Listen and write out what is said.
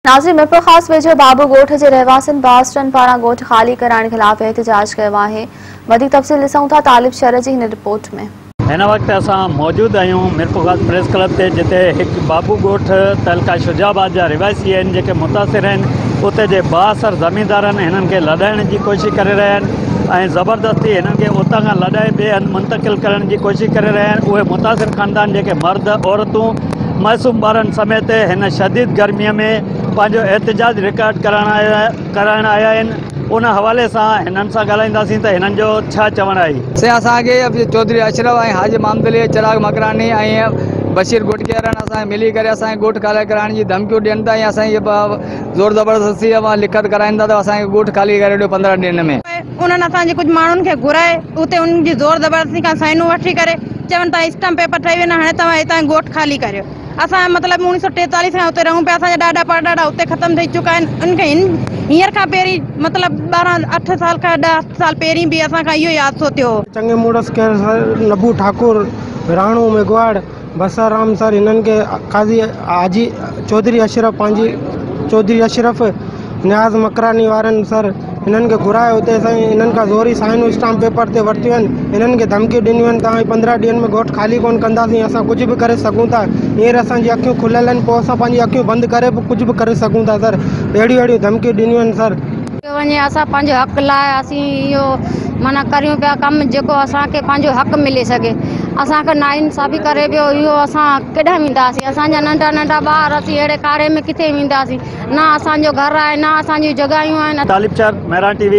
ناظرين ميرپور خاص ويجهو ڀاڀو ڳوٺ جي رهواسين باسٽن پاران ڳوٺ خالي ڪرائڻ خلاف احتجاج ڪيو آهي وڌيڪ تفصيل ڏسون ٿا طالب شر جي هن رپورٽ ۾. هن وقت اسان موجود آهيون ميرپورخاص پريس ڪلب تي جتي هڪ ڀاڀو ڳوٺ تعلقه شجاع آباد جا رهواسي آهن جيڪي متاثر آهن اتي جي بااثر زميندارن هنن کي لڏائڻ جي ڪوشش ڪري رهيا آهن ۽ زبردستي هنن کي اتان کان لڏائي ٻئي هنڌ منتقل ڪرڻ جي ڪوشش ڪري رهيا آهن اهي متاثر خاندان جيڪي مرد عورتون معصوم ٻارن سميت هن شديد گرمي ۾ پنهنجو احتجاج رڪارڊ ڪرائڻ آيا آهن ان حوالي سان هنن سان ڳالهائينداسين ته هنن جو ڇا چوڻ آهي. سي اسان کي چوڌري اشرف ۽ حاجي محمدعلي چراغ مڪراني ۽ بشير گوٽڪيارڻ اسان کي ملي ڪري اسان کي ڳوٺ خالي ڪرائڻ جي ڌمڪيون ڏين ٿا ۽ اسان کي زور زبردستي سان لکت ڪرائين ٿا ته اسان کي ڳوٺ خالي ڪري ڏيو پندرهن ڏينهن ۾. انهن اسان جي ڪجهه ماڻهن کي گهرائي اتي انهن جي زور زبردستي کان سائينون وٺي ڪري چون ته اسٽمپ پيپر ٺهي ويو نه هاڻي توهان هتان ڳوٺ خالي ڪريو اسان جو مطلب اوڻيهه سؤ ٽيتاليس کان اتي رهون پيا اسان جا ڏاڏا پڙڏاڏا اتي ختم ٿي چڪا آهن انهن کي هن هينئر کان پهرين مطلب ٻارهن اٺ سال کان ڏهه سال پهرين به اسان کان اهو ئي حادثو ٿيو هو. چڱي مڙس ڪير سر نڀو ٺاڪر راڻو ميگهواڙ. بسا رام سر هنن کي قاضي حاجي چوڌري اشرف پنهنجي چوڌري اشرف نياز مڪراني وارن سر هنن کي گهرايو اتي سائين هنن کان زوري سائنون اسٽامپ پيپر تي ورتيون آهن هنن کي ڌمڪيون ڏنيون آهن توهان پندرهن ڏينهن ۾ ڳوٺ خالي ڪونه ڪنداسين اسان ڪجهه به ڪري سگهون ٿا هينئر اسانجي اکيون کليل آهن پوء اسان پنهنجي اکيون بند ڪري به ڪجهه به ڪري سگهون ٿا سر اهڙيون اهڙيون ڌمڪيون ڏنيون آهن سر ڪيو وڃي اسان پنهنجي حق لاء اسين اهو معنيٰ ڪريون پيا ڪم جيڪو اسان کي پنهنجو حق ملي سگهي اسان کي ناانصافي ڪري پيو اهو اسان ڪيڏانهن وينداسين اسان جا ننڍا ننڍا ٻار اسين اهڙي ڪاري ۾ ڪٿي وينداسين نه اسان جو گهر آهي نه اسان جون جڳهيون آهن. طالب چار، مهراڻ ٽي وي.